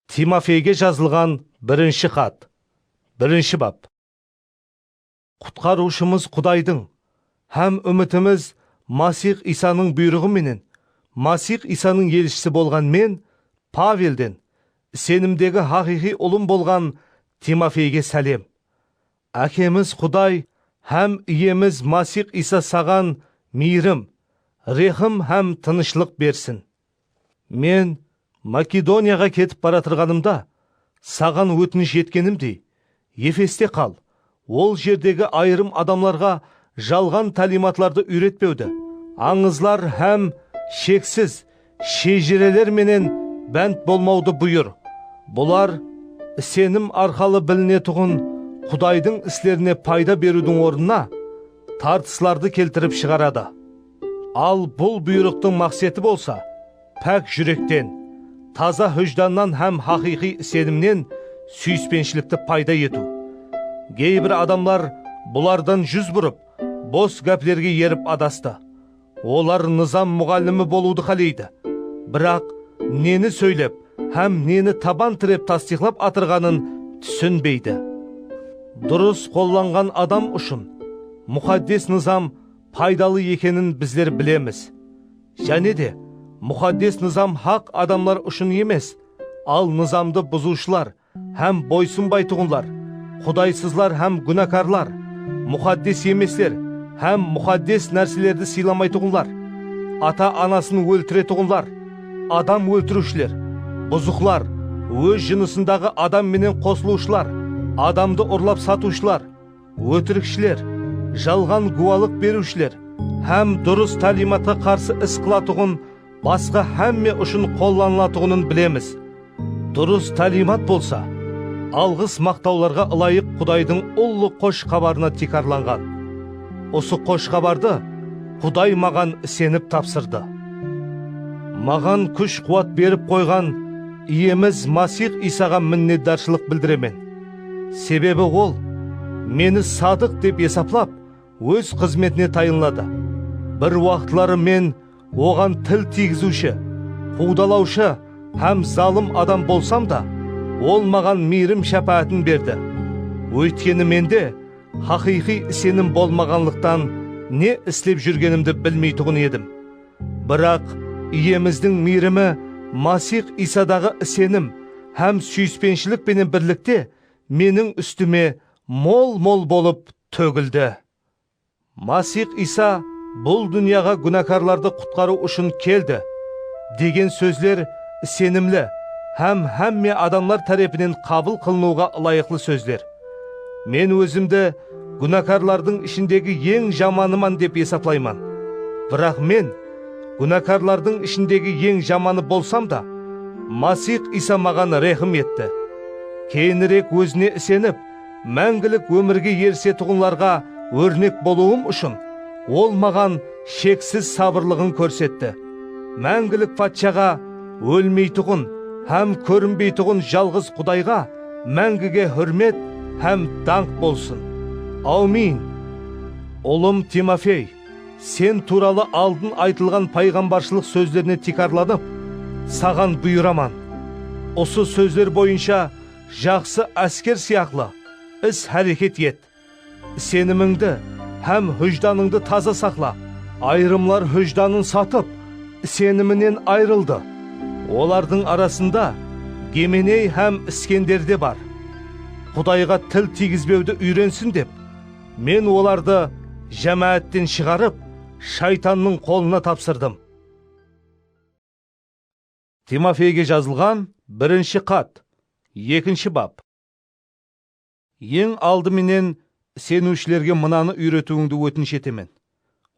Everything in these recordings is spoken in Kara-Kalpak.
Timofeyge jazılǵan birinshi xat, birinshi bap. Qutqarıwshımız Qudaydıń hám úmitimiz Masix Iysanıń buyrıǵı menen Masix Iysanıń elshisi bolǵan men, Pavelden, isenimdegi haqıyqıy ulım bolǵan Timofeyge sálem. Ákemiz Quday hám Iyemiz Masix Iysa saǵan miyrim, rehim hám tınıshlıq bersin. Men Makedoniyaǵa ketip baratırǵanımda, saǵan ótinish etkenimdey, Efeste qal, ol jerdegi ayırım adamlarǵa jalǵan táliymatlardı úyretpewdi, ańızlar hám sheksiz shejireler menen bánt bolmawdı buyır. Bular isenim arqalı bilinetuǵın Qudaydıń islerine payda beriwdiń ornına, tartıslardı keltirip shıǵaradı. Al bul buyrıqtıń maqseti bolsa, pák júrekten, taza hújdannan hám haqıyqıy isenimnen súyispenshilikti payda etiw. Geybir adamlar bulardan júz burıp, bos gáplerge erip adastı. Olar nızam muǵallimi bolıwdı qáleydi, biraq neni sóylep hám neni taban tirep tastıyqlap atırǵanın túsinbeydi. Durıs qollanǵan adam ushın Muxaddes Nızam paydalı ekenin bizler bilemiz. Jáne de, Muxaddes Nızam haq adamlar ushın emes, al Nızamdı buzıwshılar hám boysınbaytuǵınlar, qudaysızlar hám gúnakarlar, muxaddes emesler hám muxaddes nárselerdi sıylamaytuǵınlar, ata-anasın óltiretuǵınlar, adam óltiriwshiler, buzıqlar, óz jınısındaǵı adam menen qosılıwshılar, adamdı urlap satıwshılar, Ótirikshiler, jalǵan guwalıq beriwshiler hám durıs táliymatqa qarsı is qılatuǵın basqa hámme ushın qollanılatuǵının bilemiz. Durıs táliymat bolsa, alǵıs maqtawlarǵa ılayıq Qudaydıń ullı Xosh Xabarına tiykarlanǵan. Usı Xosh Xabardı Quday maǵan isenip tapsırdı. Maǵan kúsh-quwat berip qoyǵan Iyemiz Masix Iysaǵa minnetdarshılıq bildiremen. Sebebi ol, Meni sadıq dep esaplap, óz xızmetine tayınladı. Bir waqıtları Men oǵan til tiygiziwshi, quwdalawshı hám zalım adam bolsam da, ol maǵan miyrim-shápáátin berdi. Óytkeni mende haqıyqıy isenim bolmaǵanlıqtan ne islep júrgenimdi bilmeytuǵın edim. Biraq, Iyemizdiń miyrimi, Masix Iysadaǵı isenim hám súyispenshilik penen birlikte meniń ústime mol-mol bolıp tógildi. Masix Iysa bul dúnyaǵa gúnakarlardı qutqarıw ushın keldi, degen sózler isenimli hám hámme adamlar tárepinen qabıl qılınıwǵa ılayıqlı sózler. Men ózimdi gúnakarlardıń ishindegi eń jamanıman dep esaplayman. Biraq men, gúnakarlardıń ishindegi eń jamanı bolsam da, Masix Iysa maǵan rehim etti. Keyinirek Ózine isenip, máńgilik ómirge erisetuǵınlarǵa órnek bolıwım ushın, Ol maǵan sheksiz sabırlıǵın kórsetti. Máńgilik Patshaǵa, ólmeytuǵın hám kórinbeytuǵın jalǵız Qudayǵa, Máńgige húrmet hám dańq bolsın! Áwmin! Ulım Timofey, sen tuwralı aldın aytılǵan payǵambarshılıq sózlerine tiykarlanıp, saǵan buyıraman, usı sózler boyınsha jaqsı ásker sıyaqlı is-háreket et. Isenimińdi hám hújdanıńdı taza saqla. Ayırımlar hújdanın satıp, iseniminen ayrıldı. Olardıń arasında Gemeney hám Iskender de bar. Qudayǵa til tiygizbewdi úyrensin dep, Men olardı jámáátten shıǵarıp, shaytannıń qolına tapsırdım. Timofeyge jazılǵan birinshi xat, ekinshi bap. Eń aldı menen iseniwshilerge mınanı úyretiwińdi ótinish etemen,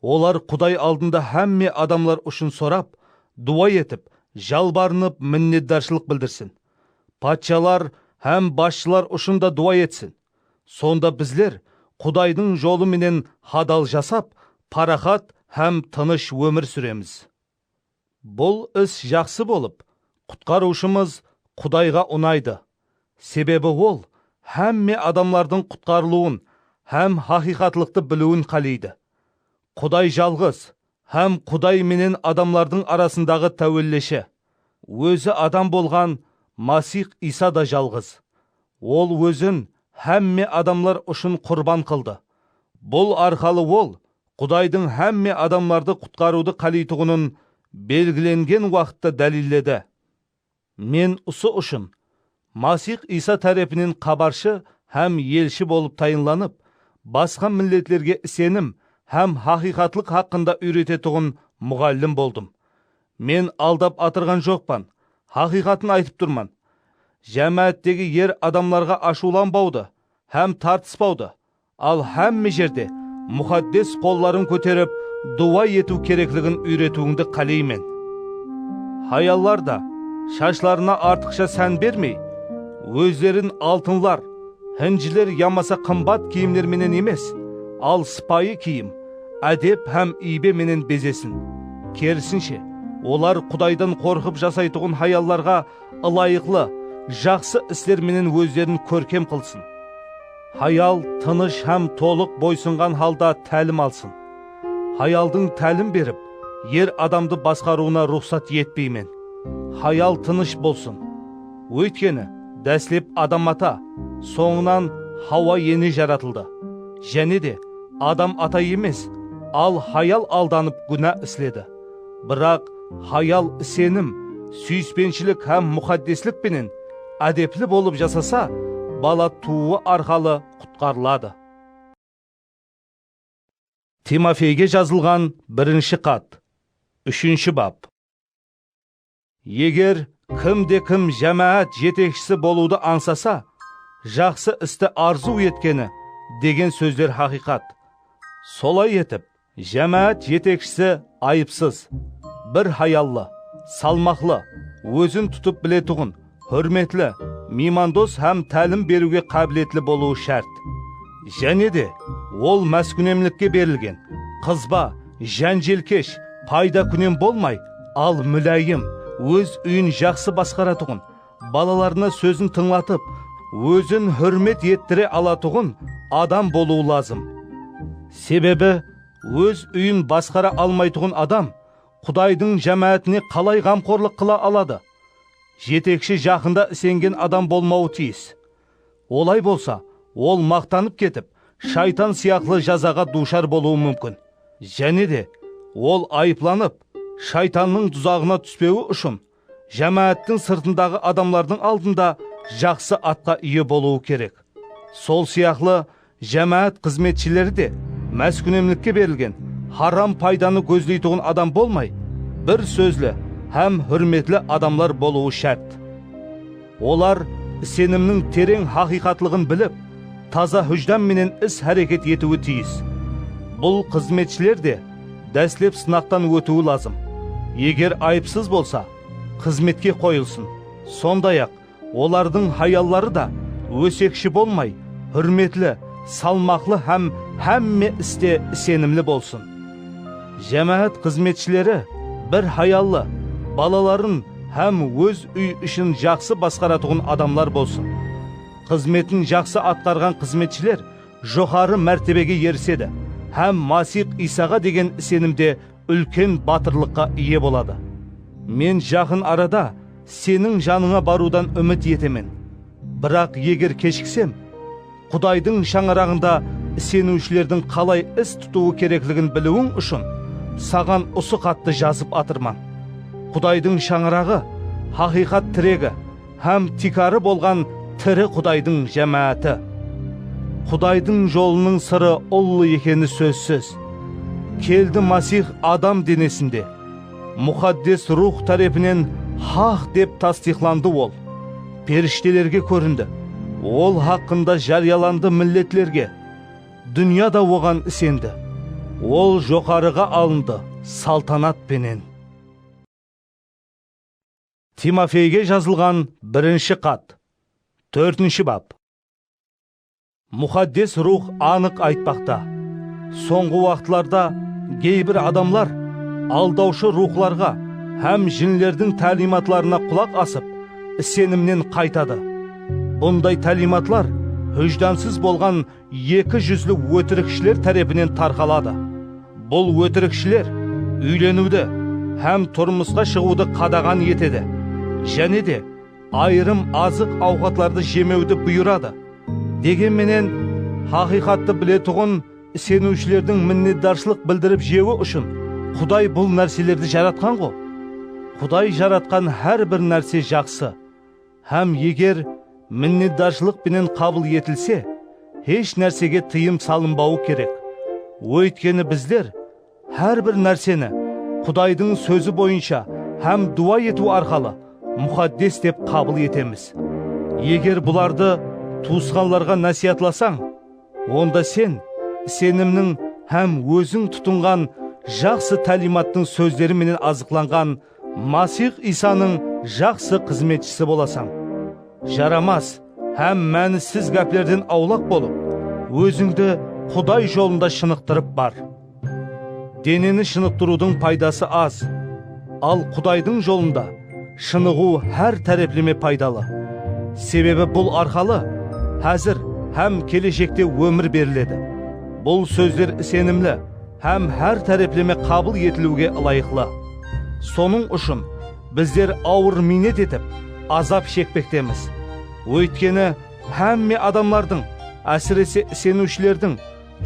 Olar Quday aldında hámme adamlar ushın sorap, duwa etip, jalbarınıp, minnetdarshılıq bildirsin. Patshalar hám basshılar ushın da duwa etsin. Sonda bizler Qudaydıń jolı menen hadal jasap, paraxat hám tınısh ómir súremiz. Bul is jaqsı bolıp, qutqarıwshımız Qudayǵa unaydı, sebebi ol hámme adamlardıń qutqarılıwın hám haqıyqatlıqtı biliwin qáleydi. Quday jalǵız hám Quday menen adamlardıń arasındaǵı táwelleshi. Ózi adam bolǵan Masix Iysa da jalǵız. Ol ózin hámme adamlar ushın qurban qıldı. Bul arqalı ol Qudaydıń hámme adamlardı qutqarıwdı qáleytuǵının belgilengen waqıtta dálilledi. Men usı ushın Masix Iysa tárepinen xabarshı hám elshi bolıp tayınlanıp, basqa milletlerge isenim hám haqıyqatlıq haqqında úyretetuǵın muǵallim boldım. Men aldap atırǵan joqpan, haqıyqatın aytıp turman. Jámááttegi er adamlarǵa ashıwlanbawdı hám tartıspawdı, Al hámme jerde muxaddes qolların kóterip duwa etiw kerekligin úyretiwińdi qáleymen. Hayallar da shashlarına artıqsha sán bermey, ózlerin altınlar, hinjiler yamasa qımbat kiyimler menen emes, al sıpayı kiyim, ádep hám iybe menen bezesin. Kerisinshe, olar Qudaydan qorqıp jasaytuǵın hayallarǵa ılayıqlı, jaqsı isler menen ózlerin kórkem qılsın. Hayal tınısh hám tolıq boysınǵan halda tálim alsın. Hayaldıń tálim berip, er adamdı basqarıwına ruxsat etpeymen. Hayal tınısh bolsın. Óytkeni, dáslep Adam ata, sońınan Hawa ene jaratıldı. Jáne de, Adam ata emes, al hayal aldanıp gúna isledi. Biraq hayal isenim, súyispenshilik hám muxaddeslik penen ádepli bolıp jasasa, bala tuwıwı arqalı qutqarıladı. Timofeyge jazılǵan birinshi xat, úshinshi bap. Eger kim de kim jámáát jetekshisi bolıwdı ańsasa, jaqsı isti arzıw etkeni degen sózler haqıyqat. Solay etip, jámáát jetekshisi ayıpsız, bir hayallı, salmaqlı, ózin tutıp biletuǵın, Húrmetli, miymandos hám tálim beriwge qábiletli bolıwı shárt. Jáne de, ol máskúnemlikke berilgen, qızba, jánjelkesh, paydakúnem bolmay, al múláyim, óz úyin jaqsı basqaratuǵın, balalarına sózin tıńlatıp, ózin húrmet ettire alatuǵın adam bolıwı lazım. Sebebi, óz úyin basqara almaytuǵın adam Qudaydıń jámáátine qalay ǵamqorlıq qıla aladı? Jetekshi jaqında isengen adam bolmawı tiyis. Olay bolsa, ol maqtanıp ketip, shaytan sıyaqlı jazaǵa duwshar bolıwı múmkin. Jáne de, ol ayıplanıp, shaytannıń duzaǵına túspewi ushın, jámááttiń sırtındaǵı adamlardıń aldında jaqsı atqa iye bolıwı kerek. Sol sıyaqlı, Jámáát xızmetshileri de máskúnemlikke berilgen haram paydanı gózleytuǵın adam bolmay, bir sózli hám húrmetli adamlar bolıwı shárt. Olar isenimniń tereń haqıyqatlıǵın bilip, taza hújdan menen is-háreket etiwi tiyis. Bul xızmetshiler de dáslep sınaqtan ótiwi lazım. Eger ayıpsız bolsa, xızmetke qoyılsın, sonday-aq, Olardıń hayalları da ósekshi bolmay, húrmetli, salmaqlı hám hámme iste isenimli bolsın. Jámáát xızmetshileri bir hayallı, balaların hám óz úy ishin jaqsı basqaratuǵın adamlar bolsın. Xızmetin jaqsı atqarǵan xızmetshiler joqarı mártebege erisedi hám Masix Iysaǵa degen isenimde úlken batırlıqqa iye boladı. Men jaqın arada seniń janıńa barıwdan úmit etemen. Biraq eger keshiksem, Qudaydıń shańaraǵında iseniwshilerdiń qalay is tutıwı kerekligin biliwiń ushın saǵan usı xattı jazıp atırman. Qudaydıń shańaraǵı, haqıyqat tiregi. Hám tiykarı bolǵan tiri Qudaydıń jámááti. Qudaydıń jolınıń sırı ullı ekeni sózsiz. Keldi Masix adam denesinde. Muxaddes Ruwx tárepinen haq dep tastıyıqlandı Ol. Perishtelerge kórindi. Ol haqqında járiyalandı milletlerge. Dúnya da Oǵan isendi. Ol joqarıǵa alındı saltanat penen. Timofeyge jazılǵan birinshi xat, tórtinshi bap. Muxaddes Ruwx anıq aytpaqta, sońǵı waqıtlarda geybir adamlar aldawshı ruwxlarǵa hám jinlerdiń táliymatlarına qulaq asıp, isenimnen qaytadı. Bunday táliymatlar hújdansız bolǵan Eki júzli ótirikshiler tárepinen tarqaladı. Bul ótirikshiler úyleniwdi hám turmısqa shıǵıwdı qadaǵan etedi, jáne de ayırım azıq-awqatlardı jemewdi buyıradı. Degen menen, haqıyqattı biletuǵın iseniwshilerdiń minnetdarshılıq bildirip jewi ushın Quday bul nárselerdi jaratqan-ǵo. Quday jaratqan hár bir nárse jaqsı. Hám eger minnetdarshılıq penen qabıl etilse, hesh nársege tıyım salınbawı kerek. Óytkeni bizler hár bir nárseni Qudaydıń Sózi boyınsha hám duwa etiw arqalı muxaddes dep qabıl etemiz. Eger bulardı tuwısqanlarǵa násiyatlasań, onda sen isenimniń hám óziń tutınǵan jaqsı táliymattıń sózleri menen azıqlanǵan Masix Iysanıń jaqsı xızmetshisi bolasań. Jaramas hám mánissiz gáplerden awlaq bolıp, ózińdi Quday jolında shınıqtırıp bar. Deneni shınıqtırıwdıń paydası az, al Qudaydıń jolında shınıǵıw hár tárepleme paydalı. Sebebi bul arqalı házir hám keleshekte ómir beriledi. Bul sózler isenimli hám hár tárepleme qabıl etiliwge ılayıqlı. Sonıń ushın bizler awır miynet etip, azap shekpektemiz. Óytkeni, hámme adamlardıń, ásirese iseniwshilerdiń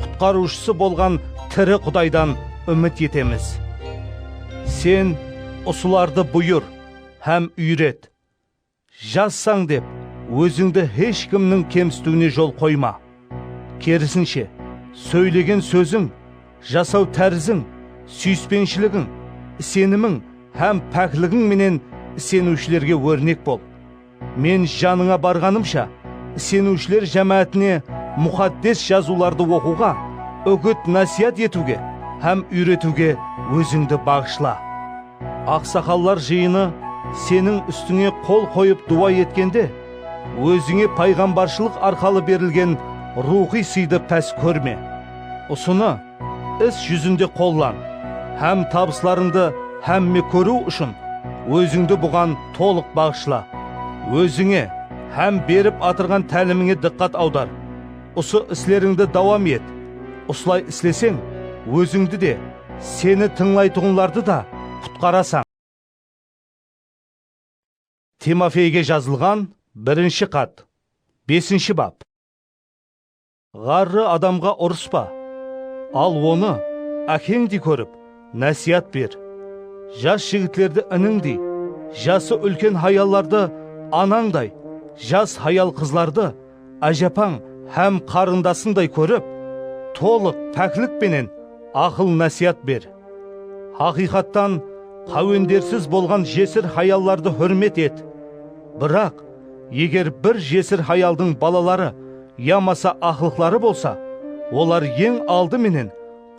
Qutqarıwshısı bolǵan tiri Qudaydan úmit etemiz. Sen usılardı buyır hám úyret. Jazsań dep, ózińdi hesh kimniń kemsitiwine jol qoyma. Kerisinshe, sóylegen sóziń, jasaw táriziń, súyispenshiligin, isenimiń hám pákligiń menen iseniwshilerge órnek bol. Men janıńa barǵanımsha, iseniwshiler jámáátine Muxaddes Jazıwlardı oqıwǵa, úgit-násiyat etiwge hám úyretiwge ózińdi baǵıshla. Aqsaqallar jıyını seniń ústińe qol qoyıp duwa etkende, ózińe payǵambarshılıq arqalı berilgen ruwxıy sıydı pás kórme. Usını is júzinde qollan hám tabıslarıńdı hámme kóriw ushın ózińdi buǵan tolıq baǵıshla. Ózińe hám berip atırǵan tálimińe dıqqat awdar. Usı islerińdi dawam et. Usılay isleseń, ózińdi de, Seni tıńlaytuǵınlardı da qutqarasań. Timofeyge jazılǵan birinshi xat, besinshi bap. Ǵarrı adamǵa urıspa, al onı ákeńdey kórip, násiyat ber. Jas jigitlerdi inińdey, jası úlken hayallardı anańday, jas hayal-qızlardı ájapań hám qarındasıńday kórip, tolıq páklik penen aqıl-násiyat ber. Haqıyqattan, qáwendersiz bolǵan jesir hayallardı húrmet et. Biraq, eger bir jesir hayaldıń balaları yamasa aqlıqları bolsa, olar eń aldı menen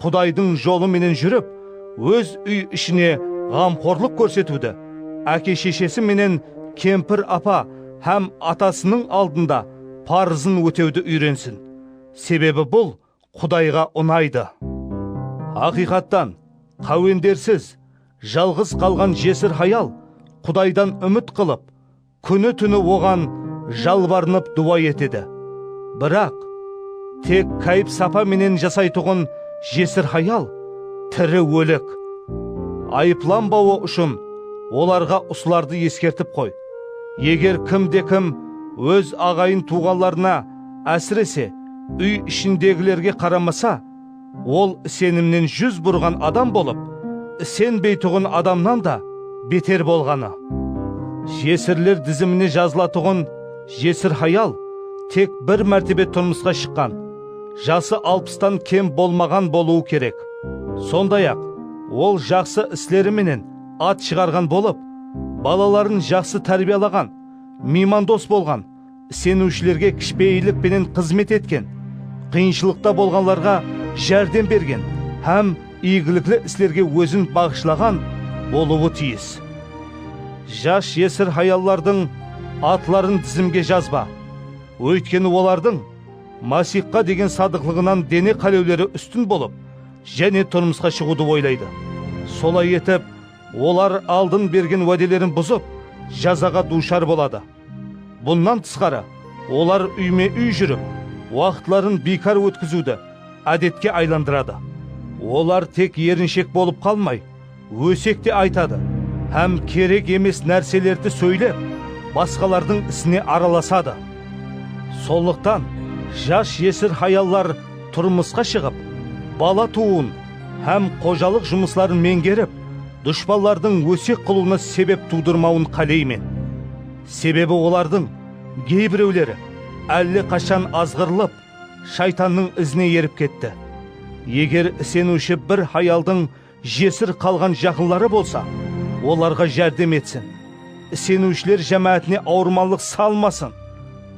Qudaydıń jolı menen júrip, óz úy ishine ǵamxorlıq kórsetiwdi, áke-sheshesi menen kempir-apa hám atasınıń aldında parızın ótewdi úyrensin, sebebi bul Qudayǵa unaydı. Haqıyqattan, qáwendersiz, jalǵız qalǵan jesir hayal Qudaydan úmit qılıp, Kúni-túni oǵan jalbarınıp duwa etedi. Biraq, tek káyip-sapa menen jasaytuǵın jesir hayal tiri ólek. Ayıplanbawı ushın olarǵa usılardı eskertip qoy, eger kimde-kim óz aǵayın-tuwǵanlarına, ásirese, úy ishindegilerge qaramasa, Ol isenimnen júz burǵan adam bolıp, isenbeytuǵın adamnan da beter bolǵanı. Jesirler dizimine jazılatuǵın jesir hayal tek bir mártebe turmısqa shıqqan, jası alpıstan kem bolmaǵan bolıwı kerek. Sonday-aq, ol jaqsı isleri menen at shıǵarǵan bolıp, balaların jaqsı tárbiyalaǵan, miymandos bolǵan, Iseniwshilerge kishpeyillik penen xızmet etken, qıyınshılıqta bolǵanlarǵa járdem bergen hám iygilikli islerge ózin baǵıshlaǵan bolıwı tiyis. Jas jesir hayallardıń atların dizimge jazba, óytkeni olardıń Masixqa degen sadıqlıǵınan dene qálewleri ústin bolıp, jáne turmısqa shıǵıwdı oylaydı. Solay etip, olar aldın bergen wádelerin buzıp, jazaǵa duwshar boladı. Bunnan tısqarı, olar úyme-úy júrip, waqıtların biykar ótkiziwdi ádetke aylandıradı. Olar tek erinshek bolıp qalmay, ósek te aytadı hám kerek emes nárselerdi sóylep, basqalardıń isine aralasadı. Sonlıqtan, jas-jesir hayallar turmısqa shıǵıp, bala tuwıwın hám xojalıq jumısların meńgerip, Dushpanlardıń ósek qılıwına sebep tuwdırmawın qáleymen. Sebebi olardıń geybirewleri álle qashan azǵırılıp, shaytannıń izine erip ketti. Eger iseniwshi bir hayaldıń jesir qalǵan jaqınları bolsa, olarǵa járdem etsin. Iseniwshiler jámáátine awırmanlıq salmasın.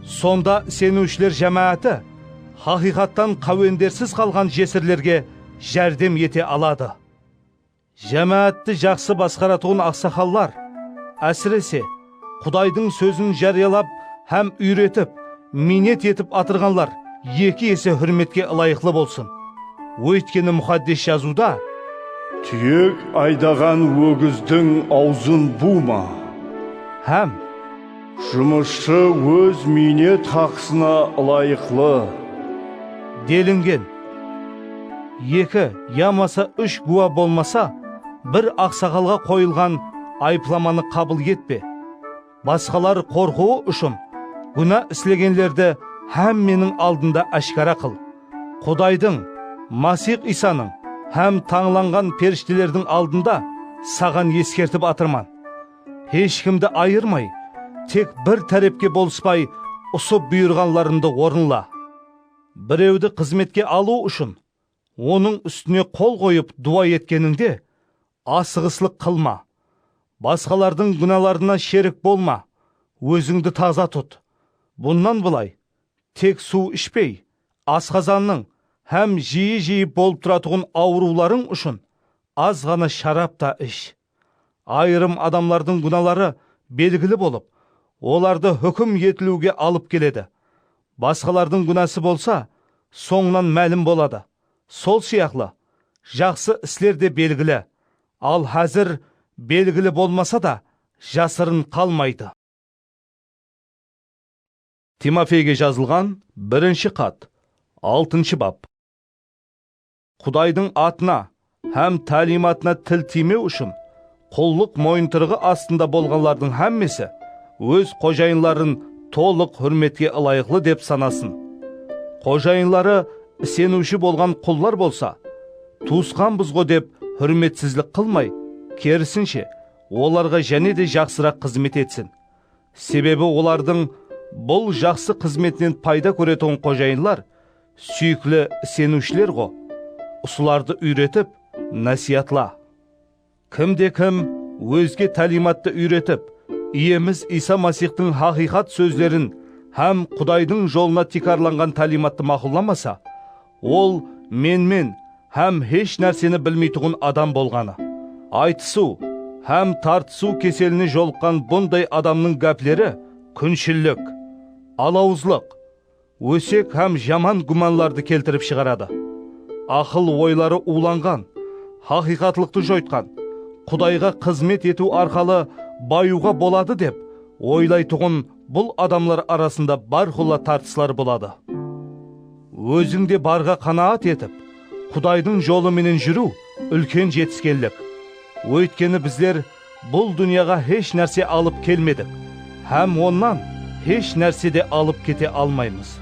Sonda iseniwshiler jámááti haqıyqattan qáwendersiz qalǵan jesirlerge járdem ete aladı. Jámáátti jaqsı basqaratuǵın aqsaqallar, ásirese, Qudaydıń sózin járiyalap hám úyretip, miynet etip atırǵanlar eki ese húrmetke ılayıqlı bolsın. Óytkeni Muxaddes Jazıwda. Túyek aydaǵan ógizdiń awzın buwma. Hám. Jumısshı óz miynet haqısına ılayıqlı. Delingen. Eki yamasa úsh gúwa bolmasa, bir aqsaǵalǵa qoyılǵan ayıplamanı qabıl etpe. Basqalar qorqıwı ushın gúna islegenlerdi hámmeniń aldında áshkara qıl. Qudaydıń, Masix Iysanıń hám tańlanǵan perishtelerdiń aldında saǵan eskertip atırman. Hesh kimdi ayırmay, tek bir tárepke bolıspay, usı buyırǵanlarımdı orınla. Birewdi xızmetke alıw ushın, onıń ústine qol qoyıp duwa etkenińde, asıǵıslıq qılma. Basqalardıń gúnalarına sherik bolma, ózińdi taza tut. Bunnan bılay, tek suw ishpey, asqazannıń hám jiyi-jiyi bolıp turatuǵın awırıwlarıń ushın az ǵana sharap ta ish. ayırım adamlardıń gúnaları belgili bolıp, olardı húkim etiliwge alıp keledi, basqalardıń gúnası bolsa sońınan málim boladı, sol sıyaqlı, jaqsı isler de belgili, al házir belgili bolmasa da jasırın qalmaydı. Timofeyge jazılǵan birinshi xat, altınshı bap. Qudaydıń atına hám táliymatına til tiymew ushın qullıq moyıntırıǵı astında bolǵanlardıń hámmesi óz xojayınların tolıq húrmetke ılayıqlı dep sanasın. Xojayınları iseniwshi bolǵan qullar bolsa, Tuwısqanbızǵo dep húrmetsizlik qılmay, kerisinshe, olarǵa jáne de jaqsıraq xızmet etsin. Sebebi olardıń bul jaqsı xızmetinen payda kóretuǵın xojayınlar Súyikli iseniwshiler ǵo, usılardı úyretip, násiyatla. Kim de kim ózge táliymattı úyretip, Iyemiz Iysa Masixtıń haqıyqat sózlerin hám Qudaydıń jolına tiykarlanǵan táliymattı maqullamasa, ol menmen hám hesh nárseni bilmeytuǵın adam bolǵanı. Aytısıw hám tartısıw keseline jolıqqan bunday adamnıń gápleri kúnshillik, alawızlıq, ósek hám jaman gúmanlardı keltirip shıǵaradı. Aqıl oyları uwlanǵan, haqıyqatlıqtı joytqan, Qudayǵa xızmet etiw arqalı bayıwǵa boladı dep oylaytuǵın bul adamlar arasında bárqulla tartıslar boladı. Óziń de barǵa qanaat etip, Qudaydıń jolı menen júriw úlken jetiskenlik. Óytkeni bizler Bul dúnyaǵa hesh nárse alıp kelmedik hám onnan hesh nárse de alıp kete almaymız.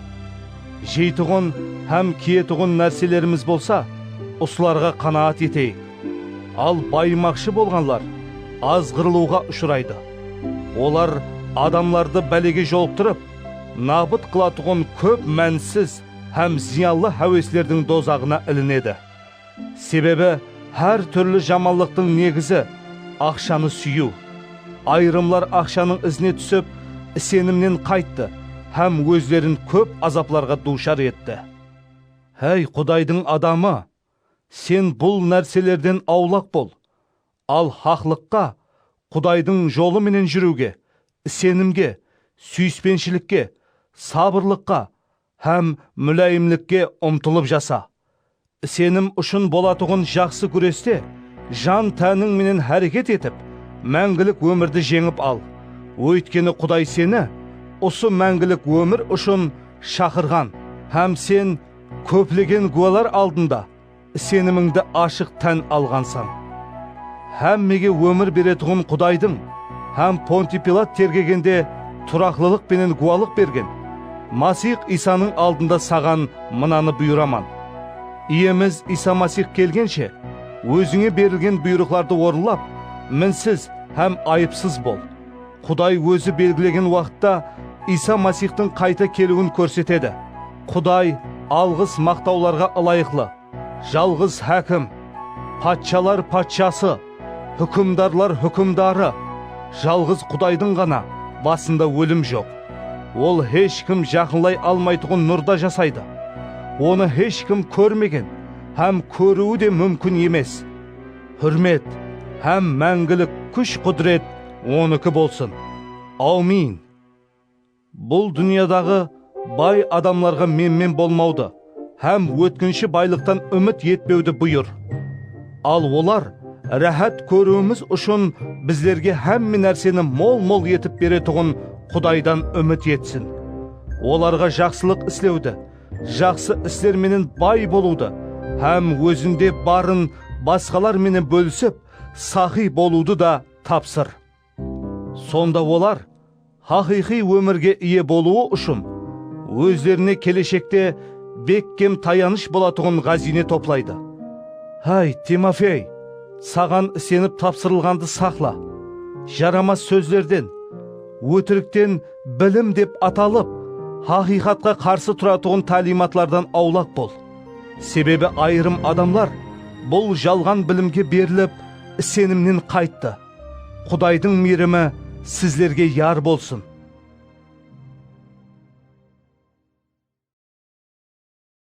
Jeytuǵın hám kiyetuǵın nárselerimiz bolsa, usılarǵa qanaat eteyik. Al bayımaqshı bolǵanlar azǵırılıwǵa ushıraydı. Olar adamlardı bálege jolıqtırıp, nabıt qılatuǵın kóp mánisiz hám zıyanlı háweslerdiń dozaǵına ilinedi. Sebebi hár túrli jamanlıqtıń negizi, aqshanı súyiw. Ayırımlar aqshanıń izine túsip, isenimnen qayttı hám ózlerin kóp azaplarǵa duwshar etti. Háy, Qudaydıń adamı! Sen bul nárselerden awlaq bol, al haqlıqqa, Qudaydıń jolı menen júriwge, isenimge, súyispenshilikge, sabırlıqqa, Hám múláyimlikke umtılıp jasa. Isenim ushın bolatuǵın jaqsı gúreste jan-tániń menen háreket etip, máńgilik ómirdi jeńip al. Óytkeni Quday seni usı máńgilik ómir ushın shaqırǵan hám sen kóplegen gúwalar aldında, Isenimińdi ashıq tán alǵansań. Hámmege ómir beretuǵın Qudaydıń hám Pontiy Pilat tergegende turaqlılıq penen gúwalıq bergen Masix Iysanıń aldında saǵan mınanı buyıraman, Iyemiz Iysa Masix kelgenshe, ózińe berilgen buyırıqlardı orınlap, minsiz hám ayıpsız bol. Quday Ózi belgilegen waqıtta Iysa Masixtıń qayta keliwin kórsetedi. Quday alǵıs maqtawlarǵa ılayıqlı, Jalǵız Hákim, Patshalar Patshası, Húkimdarlar Húkimdarı, Jalǵız Qudaydıń ǵana basında ólim joq. Ol hesh kim jaqınlay almaytuǵın nurda jasaydı. Onı hesh kim kórmegen hám kóriwi de múmkin emes. Húrmet hám máńgilik kúsh-qúdiret Onıki bolsın! Awmin! Bul dúnyadaǵı bay adamlarǵa menmen bolmawdı hám ótkinshi baylıqtan úmit etpewdi buyır. Al olar ráhát kóriwimiz ushın bizlerge hámme nárseni mol-mol etip beretuǵın Qudaydan úmit etsin. Olarǵa jaqsılıq islewdi Jaqsı isler menen bay bolıwdı hám ózinde barın basqalar menen bólisip, saqıy bolıwdı da tapsır. Sonda olar haqıyqıy ómirge iye bolıwı ushın ózlerine keleshekte bekkem tayanısh bolatuǵın ǵáziyne toplaydı. Háy, Timofey, saǵan isenip tapsırılǵandı saqla, jaramas sózlerden, ótirikten, Bilim dep atalıp, haqıyqatqa qarsı turatuǵın táliymatlardan awlaq bol. Sebebi ayırım adamlar bul jalǵan bilimge berilip, isenimnen qayttı. Qudaydıń miyrimi sizlerge yar bolsın!